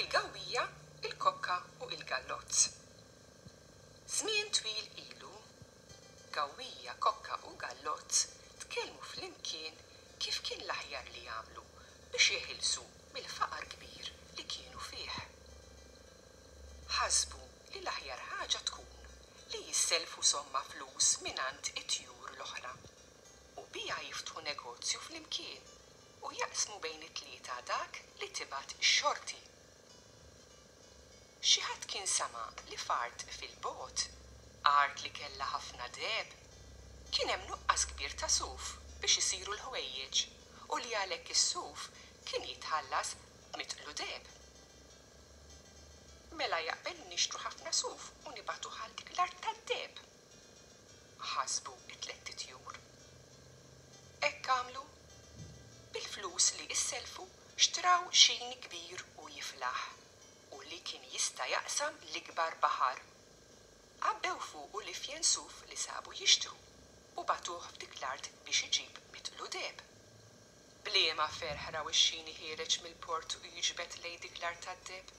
il-gawwija, il-kokka u il-gallozz. Żmien twil ilu, gawwija, kokka u gallozz tkellmu flimkien kif kien l-aħjar li jagħmlu biex jeħilsu mill-faqar kbir li kienu fih. ħasbu li l-aħjar ħaġa tkun li jissellfu somma flus mingħand it-tjur l-oħra, u biha jiftħu negozju flimkien u jaqsmu bejn it-tlieta dak li tibgħat ix-xorti. Xi ħadd kien sema' li f'art fil-bogħod, art li kellha ħafna deheb, kien hemm nuqqas kbir ta' suf biex isiru l-ħwejjeġ u li għalhekk is-suf kien jitħallas b'mitqlu deheb. Mela jaqbel li nixtru ħafna suf u nibagħtuh għal dik l-art tad-deheb? Ħasbu t-tlett itjur. Hekk għamlu. Bil-flus li issellfu xtraw xini kbir u jiflaħ u li kien jista' jaqsam l-ikbar baħar. Għabbew fuqu l-ifjen suf li sabu jixtru u bagħtuh f'dik l-art biex iġib mitlu deheb. B'liema ferħ raw ix-xini ħiereġ mill-port u jiġbed lejn dik l-art tad-deheb?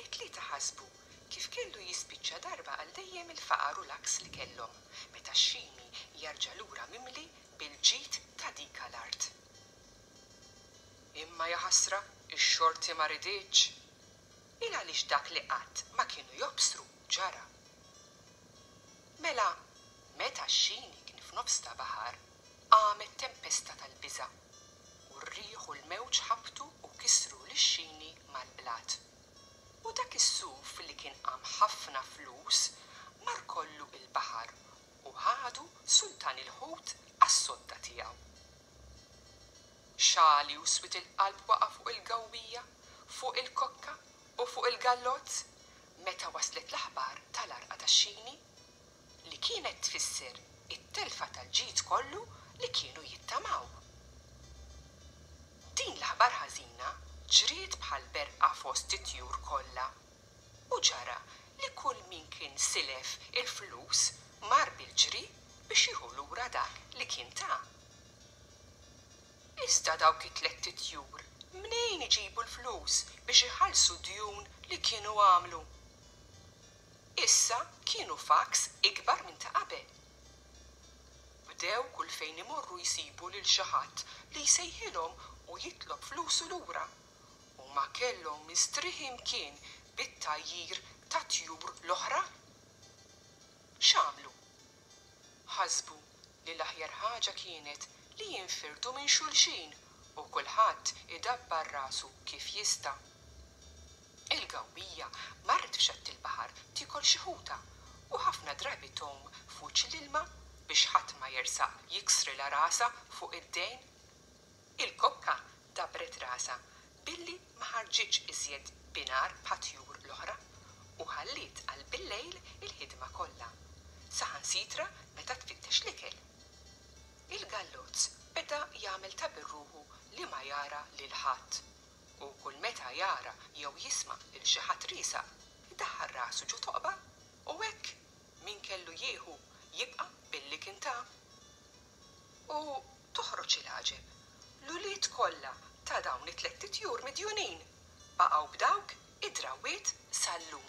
It-tlieta ħasbu kif kellu jispiċċa darba għal dejjem il-faqar u l-għaks li kellhom meta x-xini jarġa' lura mimli bil-ġid ta' dika l-art. Imma jaħasra, ix-xorti ma riditx! Il għaliex dak li qatt ma kienu jobsru ġara. Mela, meta x-xini kien f'nofs ta' baħar, Qamet tempesta tal-biża', u r-riħ u l-mewġ ħabtu u kisru lix-xini mal-blat. U dak is-suf li kien qam ħafna flus mar kollu il-baħar u ħadu sultan il-ħut għas-sodda tiegħu. Xagħli u swied il-qalb waqa' fuq il-gawwija, fuq il-kokka u fuq il-gallozz meta waslet l-aħbar tal-għarqa tax-xini. li kienet tfisser it-telfa tal-ġid kollu li kienu jittamaw. Din l-aħbar ħażina ġriet bħal berqa fost it-tjur kollha, u ġara li kull min kien silef il-flus mar bil-ġri biex jieħu lura dak li kien ta. Iżda dawk it-tlett itjur mnejn iġibu l-flus biex iħallsu d-djun li kienu għamlu? Issa kienu f'għaks ikbar minn ta' qabel. Bdew kull fejn imorru jsibu lil xi ħadd li jsejħilhom u jitlob flusu lura. Huma kellhom mistrieħi mkien bit-tgħajjir tat-tjur l-oħra. X'għamlu? Ħasbu li l-aħjar ħaġa kienet li jinfirdu minn xulxin u kulħadd idabbar rasu kif jista'. Il-gawbija marret f'xatt il-baħar tiekol xi ħuta u ħafna drabi tgħum f'wiċċ l-ilma biex ħadd ma jersaq jiksrilha rasha fuq id-dejn. Il-kokka dabbret rasha billi ma ħarġitx iżjed binhar bħat-tjur l-oħra u ħalliet għal billejl il-ħidma kollha, saħansitra meta tfittex l-ikel. Il-gallozz beda jagħmel ta' birruħu li ma jara lil ħadd u kull meta jara jew jisma' lil xi ħadd riesaq, idaħħal rasu ġo toqba u hekk min kellu jieħu jibqa' billi kien ta. U Toħroġ il-għaġeb, l-ulied kollha ta' dawn it-tlett itjur midjunin baqgħu b'dawk id-drawwiet sal-lum.